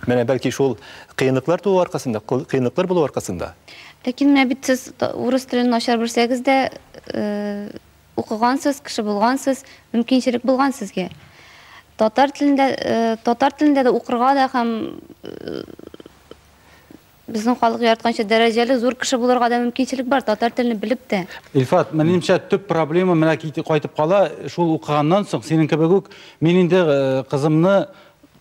Менә бәлки шул кыенлыклар туу аркасында, кыенлыклар булу аркасында. Ләкин менә бит сез урыс телен начар белсәгез дә, укыгансыз, кеше булгансыз, мөмкинчелек булган сезгә. Татар телендә, татар телендә дә укырга да һәм Безнең халык яратканча, дәрәҗәле, зур кеше булырга да мөмкинчелек бар, татар телен белеп тә. Илфат, минемчә, төп проблема менә кит- кайтып кала, шул укыганнан соң, синең кебек үк, мин инде э, кызымны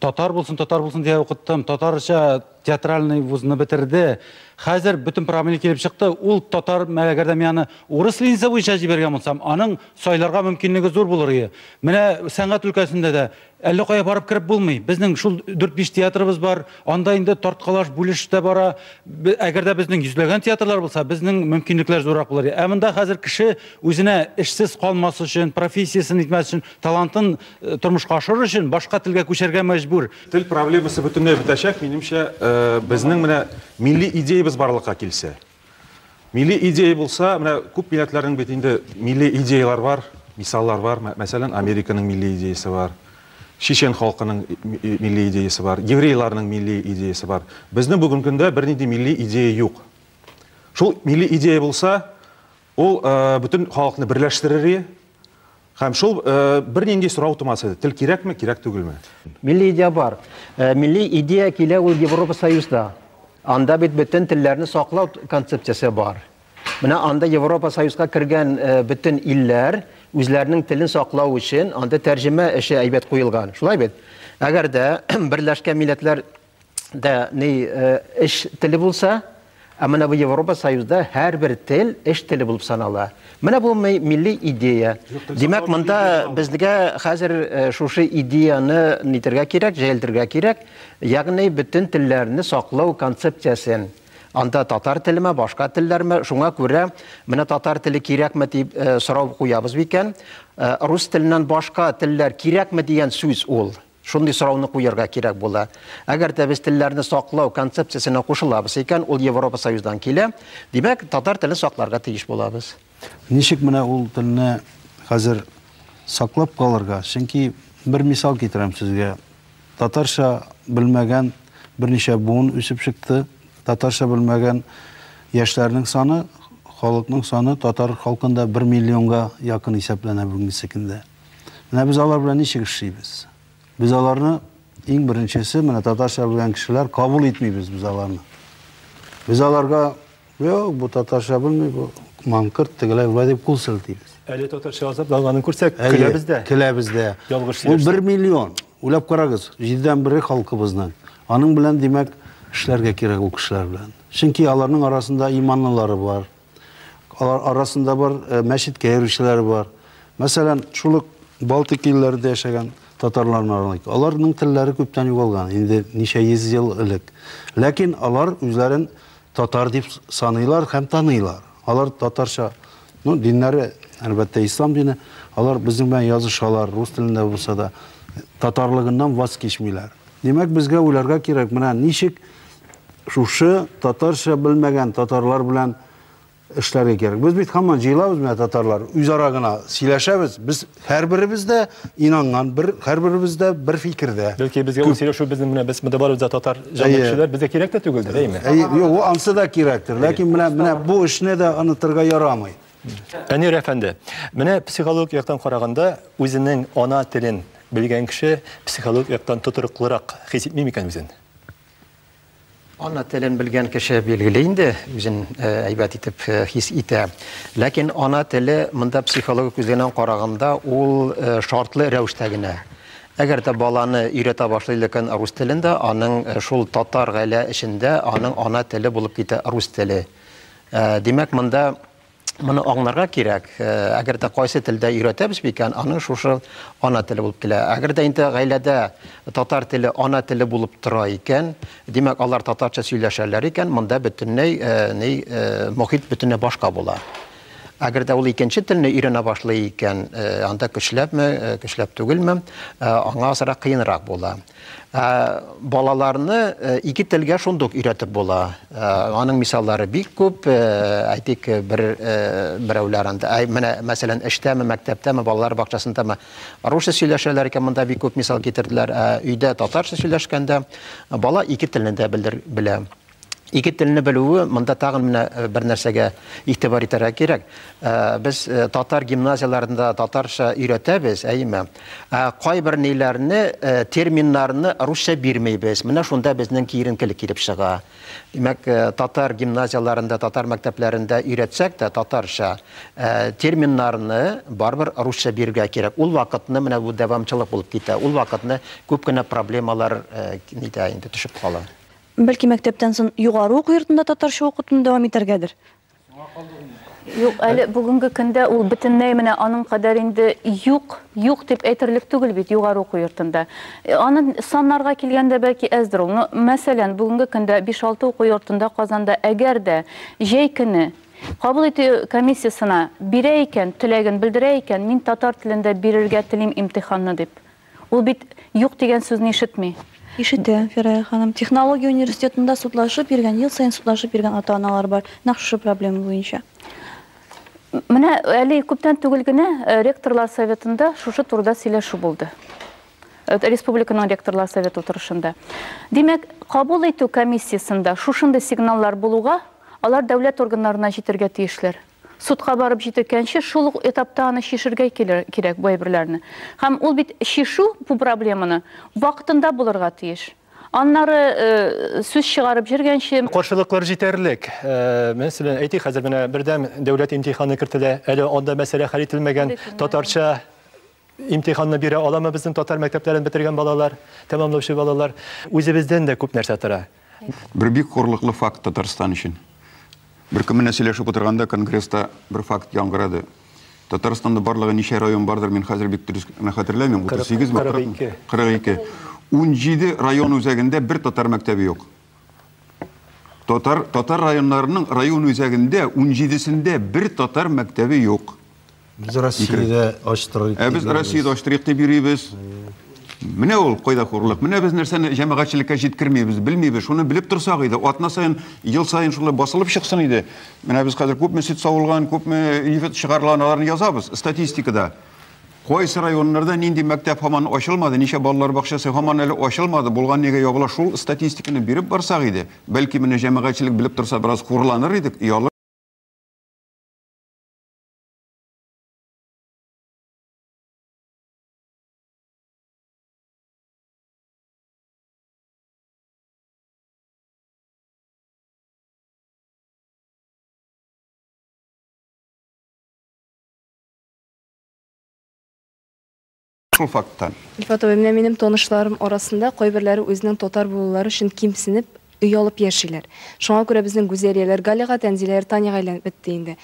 татар булсын, татар булсын дия укыттым, татарча театральный вузны бетерде. Хәзер бөтен проблема килеп чыкты, ул татар, мә- әгәр дә мин аны урыс ленинцы буенча җибәргән булсам, аның сайларга мөмкинлеге зур булыр иде. Менә сәнгать өлкәсендә дә Әллә кая барып кереп булмый. Безнең шул дүрт-биш театрыбыз бар. Анда инде тарткалаш, бүлеш тә бара. Әгәр дә безнең йөзләгән театрлар булса, безнең мөмкинлекләр зуррак булыр иде. Ә монда хәзер кеше үзенә эшсез калмас өчен, профессиясен итмәс өчен, талантын э, тормышка ашырыр өчен башка телгә күчәргә мәҗбүр. Тел проблемасы бөтенләй бетәчәк, минемчә, э, безнең менә милли идеябез барлыкка килсә. Милли идея булса, менә күп милләтләрнең бит инде милли идеяләр бар, мисаллар бар. Мәсәлән, Американың милли идеясе бар. Чечен халкының милли идеясе бар, еврейларның милли идеясе бар. Безнең бүген көндә бернинди милли идея юк. Шул милли идея булса, Ул бөтен халыкны берләштерер иде. Һәм шул бернинди сорау тумас иде. Тел кирәкме, кирәк түгелме? Милли идея бар. Милли идея килә ул Европа Союзда. Анда бит бөтен телләрне саклау концепциясе бар. Менә анда Европа Союзга кергән бөтен илләр үзләренең телен саклау өчен анда тәрҗемә эше әйбәт куелган. Шулай бит? Әгәр дә Берләшкән Милләтләр да ни эш теле булса, ә менә бу Европа Союзда һәрбер тел эш теле булып санала. Менә бу милли идея. Димәк, монда безгә хәзер шушы идеяны нитергә кирәк, җәелтергә кирәк. Ягъни бөтен телләрне саклау концепциясен анда татар телеме, башка телләрме, шуңа күрә менә татар теле кирәкме дип э, сорау куябыз бикән. Э, рус теленнән башка телләр кирәкме дигән сүз ул. Шундый сорауны куярга кирәк була. Әгәр дә без телләрне саклау концепциясенә кушылабыз икән, ул Европа Союздан килә, димәк, татар телен сакларга тиеш булабыз. Ничек менә ул телне хәзер саклап калырга? Чөнки бер мисал китерәм сезгә. Татарча белмәгән берничә буын үсеп чыкты. Татарча белмәгән яшьләрнең саны, халыкның саны татар халкында бер миллионга якын исәпләнә бүгенге көндә. Менә без алар белән ничек эшлибез? Без аларны иң беренчесе, менә татарча белгән кешеләр кабул итмибез без аларны. Без аларга, юк, бу татарча белми, бу маңкырт, тегеләй, болай дип кул селтибез. Әле татарча азап ялганын күрсәк, көләбез дә. Көләбез дә. Ялгыш сөйләшсәк. Ул бер миллион. Уйлап карагыз, җидедән бере халкыбызның. Аның белән, димәк, эшләргә кирәк ул кешеләр белән. Чөнки аларның арасында иманлылары бар, Алар арасында бар э, мәчеткә йөрүчеләр бар. Мәсәлән, шул ук Балтик илләрендә яшәгән татарларны алыйк. Аларның телләре күптән югалган, инде ничә йөз ел элек. Ләкин алар үзләрен татар дип саныйлар һәм таныйлар. Алар татарча, ну, диннәре, әлбәттә, ислам дине, алар безнең белән язышалар, рус телендә булса да, татарлыгыннан ваз кичмиләр. Димәк, безгә уйларга кирәк, менә ничек шушы татарча белмәгән татарлар белән эшләргә кирәк. Без бит һаман җыелабыз менә татарлар, үзара гына сөйләшәбез. Без һәрберебез дә инанган, бер һәрберебез дә бер фикердә. Бәлки безгә ул сөйләшү безнең менә без монда барыбыз да татар җәмәгатьчеләр, безгә кирәк тә түгелдер, әйме? Әйе, юк, ул ансы да кирәктер, ләкин менә менә бу эшне дә онытырга ярамый. Әнир әфәнде, менә психологик яктан караганда, үзенең ана телен белгән кеше психологик яктан тотрыклырак хис итми микән үзен? Ана телен белгән кеше билгеле инде, үзен әйбәт итеп хис итә. Ләкин ана теле монда психологик күзлегеннән караганда ул шартлы рәвештә генә. Әгәр дә баланы өйрәтә башлый икән рус телендә, аның шул татар гаилә эчендә аның ана теле булып китә рус теле. Димәк, монда Моны аңларга кирәк, э, әгәр дә кайсы телдә өйрәтәбез микән, аның шушы ана теле булып килә. Әгәр дә инде гаиләдә татар теле ана теле булып тора икән, димәк, алар татарча сөйләшәләр икән, монда бөтенләй э, ни э, мохит бөтенләй башка була. Әгәр дә ул икенче телне өйрәнә башлый икән, анда көчләпме, көчләп түгелме, аңа азрак кыенрак була. Ә, балаларны э, ике телгә шундук өйрәтеп була. Ә, аның мисаллары бик күп. Ә, әйтик, бер ә, берәүләр анда, ә, менә мәсәлән, эштәме, мәктәптәме, балалар бакчасындамы русча сөйләшәләр икән, монда бик күп мисал китерделәр. Ә, өйдә татарча сөйләшкәндә бала ике телне дә белдер, белә. Ике телне белүе монда тагын менә э, бер нәрсәгә игътибар итәргә кирәк. Э, без э, татар гимназияләрендә татарча өйрәтәбез, әйеме? Ә кайбер ниләрне, терминнарны русча бирмәйбез. Менә шунда безнең киеренкелек килеп чыга. Димәк, татар гимназияләрендә, татар мәктәпләрендә өйрәтсәк тә татарча терминнарны барбер русча бирергә кирәк. Ул вакытны менә бу дәвамчылык булып китә. Ул вакытны күп кенә проблемалар нитә инде төшеп кала. Бәлки мәктәптән сон югары уку йортында татарча укытуны дәвам итәргәдер? Соңга калды ул. Юк, әле бүгенге көндә ул бөтенләй менә аның кадәр инде юк, юк дип әйтерлек түгел бит югары уку йортында. Аны саннарга килгәндә бәлки әздер ул. Но, мәсәлән, бүгенге көндә биш-алты уку йортында Казанда әгәр дә җәй көне кабул итү комиссиясенә бирә икән, теләген белдерә икән, мин татар телендә бирергә телим имтиханны дип, Ул бит юк дигән сүзне ишетми. Ишетә, Фирая ханым. Технология университетында судлашып йөргән, ел саен судлашып йөргән ата-аналар бар, нәкъ шушы проблема буенча. Менә әле күптән түгел генә э, ректорлар советында шушы турыда сөйләшү булды. Э, республиканың ректорлар совет утырышында. Димәк, кабул итү комиссиясендә шушындай сигналлар булуга, алар дәүләт органнарына җитергә тиешләр. Судка барып җиткәнче шул ук этапта аны чишергә кирәк бу әйберләрне. Һәм ул бит чишу бу проблеманы вакытында булырга тиеш. Аннары сүз чыгарып җөргәнче. Каршылыклар җитәрлек. Мәсәлән, әйтик, хәзер менә бердәм дәүләт имтиханы кертелә, әле анда мәсьәлә хәл ителмәгән. Татарча. Имтиханны бирә аламы безнең татар мәктәпләрен бетергән балалар, тәмамлаучы балалар? Үзебездән дә күп нәрсә тора. Бер бик хурлыклы факт Татарстан өчен. Бер көн менә сөйләшеп утырганда конгресста бер факт яңгырады. Татарстанда барлыгы ничә район бардыр, мин хәзер бик дөрес генә хәтерләмим, 38 ме, 40 ме? 42. 42. 17 район үзәгендә бер татар мәктәбе юк. Татар, татар районнарының район үзәгендә 17-сендә бер татар мәктәбе юк. Без Россиядә ачтырыйк. Ә без Россиядә ачтырыйк дип йөрибез. Менә ул кайда хурлык. Менә без нәрсәне җәмәгатьчелеккә җиткермибез, белмибез. Шуны белеп торсак иде, атна саен, ел саен шулай басылып чыксын иде. Менә без хәзер күпме сөт савылган, күпме ифет чыгарылган, аларны язабыз статистикада. Кайсы районнарда нинди мәктәп һаман ачылмады, ничә балалар бакчасы һаман әле ачылмады, булган нигә ябыла, шул статистиканы биреп барсак иде, бәлки менә җәмәгатьчелек белеп торса бераз хурланыр идек, оялыр. Шул факттан. Илфат абый, менә минем танышларым арасында кайберләре үзенең татар булулары өчен кимсенеп, оялып яшиләр. Шуңа күрә безнең Гүзәлияләр Галига, Тәнзиләләр Таняга әйләнеп бетте инде.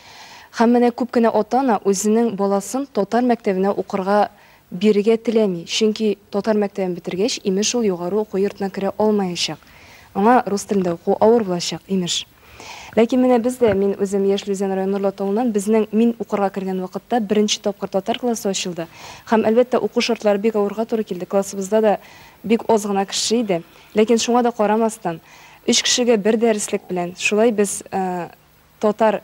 Һәм менә күп кенә ата-ана үзенең баласын татар мәктәбенә укырга бирергә теләми, чөнки татар мәктәбен бетергәч, имеш, ул югары уку йортына керә алмаячак. Аңа рус телендә уку авыр булачак, имеш. Ләкин менә без дә, мин үзем яшь Люзян районы Норлат тавыннан, безнең мин укырга кергән вакытта беренче тапкыр татар классы ачылды. Һәм, әлбәттә, уку шартлары бик авырга туры килде, классыбызда да бик аз гына кеше иде. Ләкин шуңа да карамастан, өч кешегә бер дәреслек белән шулай без татар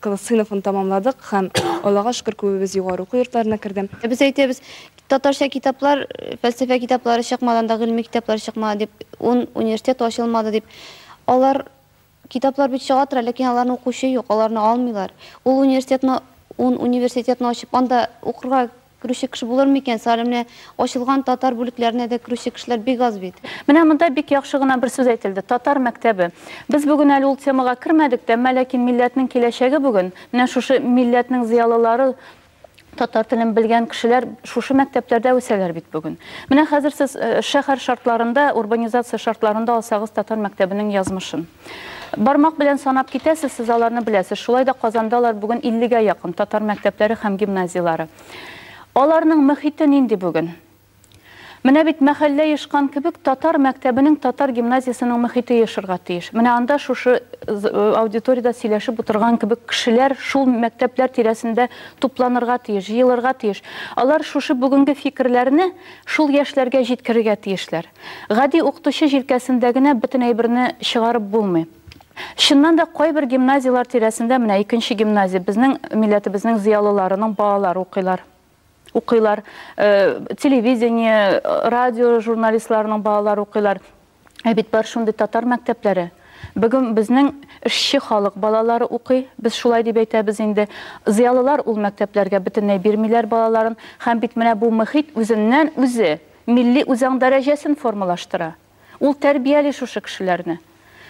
сыйныфын тәмамладык һәм, Аллага шөкер, күбебез югары уку йортларына керде. Без әйтәбез, Татарча китаплар, фәлсәфә китаплары чыкмады анда, гыйльми китаплар чыкмады дип, ун университет ачылмады дип. Алар, китаплар бит чыга тора, ләкин аларны укучы юк, аларны алмыйлар. Ул университетны, ун университетны ачып, анда укырга керүче кеше булыр микән? Соң әле менә ачылган татар бүлекләренә дә керүче кешеләр бик аз бит. Менә монда бик яхшы гына бер сүз әйтелде, татар мәктәбе. Без бүген әле ул темага кермәдек тә, әмма ләкин милләтнең киләчәге бүген, менә шушы милләтнең зыялылары, татар телен белгән кешеләр шушы мәктәпләрдә үсәләр бит бүген. Менә хәзер сез э, шәһәр шартларында, урбанизация шартларында алсагыз татар мәктәбенең язмышын. Бармак белән санап китәсез, сез аларны беләсез. Шулай да Казанда алар бүген 50-гә якын татар мәктәпләре һәм гимназияләре. Аларның мөхите нинди бүген? Менә бит мәхәллә ешкан кебек татар мәктәбенең татар гимназиясенең мөхите ешырга тиеш. Менә анда шушы аудиториядә сөйләшеп утырган кебек кешеләр шул мәктәпләр тирәсендә тупланырга тиеш, җыелырга тиеш. Алар шушы бүгенге фикерләрне шул яшьләргә җиткерергә тиешләр. Гади укытучы җилкәсендә генә бөтен әйберне чыгарып булмый. Чыннан да кайбер гимназияләр тирәсендә, менә икенче гимназия, безнең милләтебезнең зыялыларының балалары укыйлар. укыйлар, телевидение, радио журналистларының балалары укыйлар. Ә бит бар шундый татар мәктәпләре. Бүген безнең эшче халык балалары укый, без шулай дип әйтәбез инде. Зыялылар ул мәктәпләргә бөтенләй бирмиләр балаларын. Һәм бит менә бу мөхит үзеннән-үзе милли үзаң дәрәҗәсен формалаштыра. Ул тәрбияли шушы кешеләрне.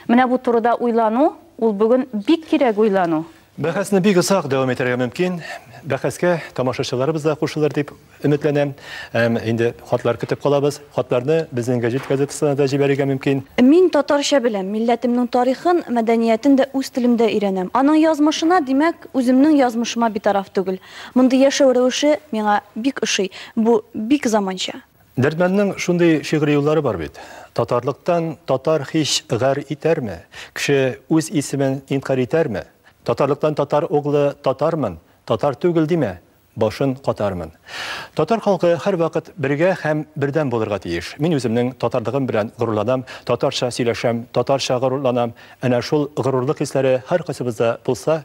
Менә бу турыда уйлану, ул бүген бик кирәк уйлану. Бәхәсне бик озак дәвам итәргә мөмкин. Бәхәскә тамашачыларыбыз да кушылыр дип өметләнәм. Һәм инде хатлар көтеп калабыз. Хатларны безнең гәҗит газетасына да җибәрергә мөмкин. Мин татарча беләм, милләтемнең тарихын, мәдәниятен дә үз телемдә өйрәнәм. Аның язмышына, димәк, үземнең язмышыма битараф түгел. Мондый яшәү рәвеше миңа бик ошый. Бу бик заманча. Дәрдмәннең шундый шигъри юллары бар бит. Татарлыктан татар һич гарь итәрме? Кеше үз исемен инкарь итәрме? Татарлыктан татар углы татармын, татар түгел димә, башын катармын. Татар халкы һәрвакыт бергә һәм бердәм булырга тиеш. Мин үземнең татарлыгым белән горурланам, татарча сөйләшәм, татарча горурланам. Әнә шул горурлык хисләре һәркайсыбызда булса,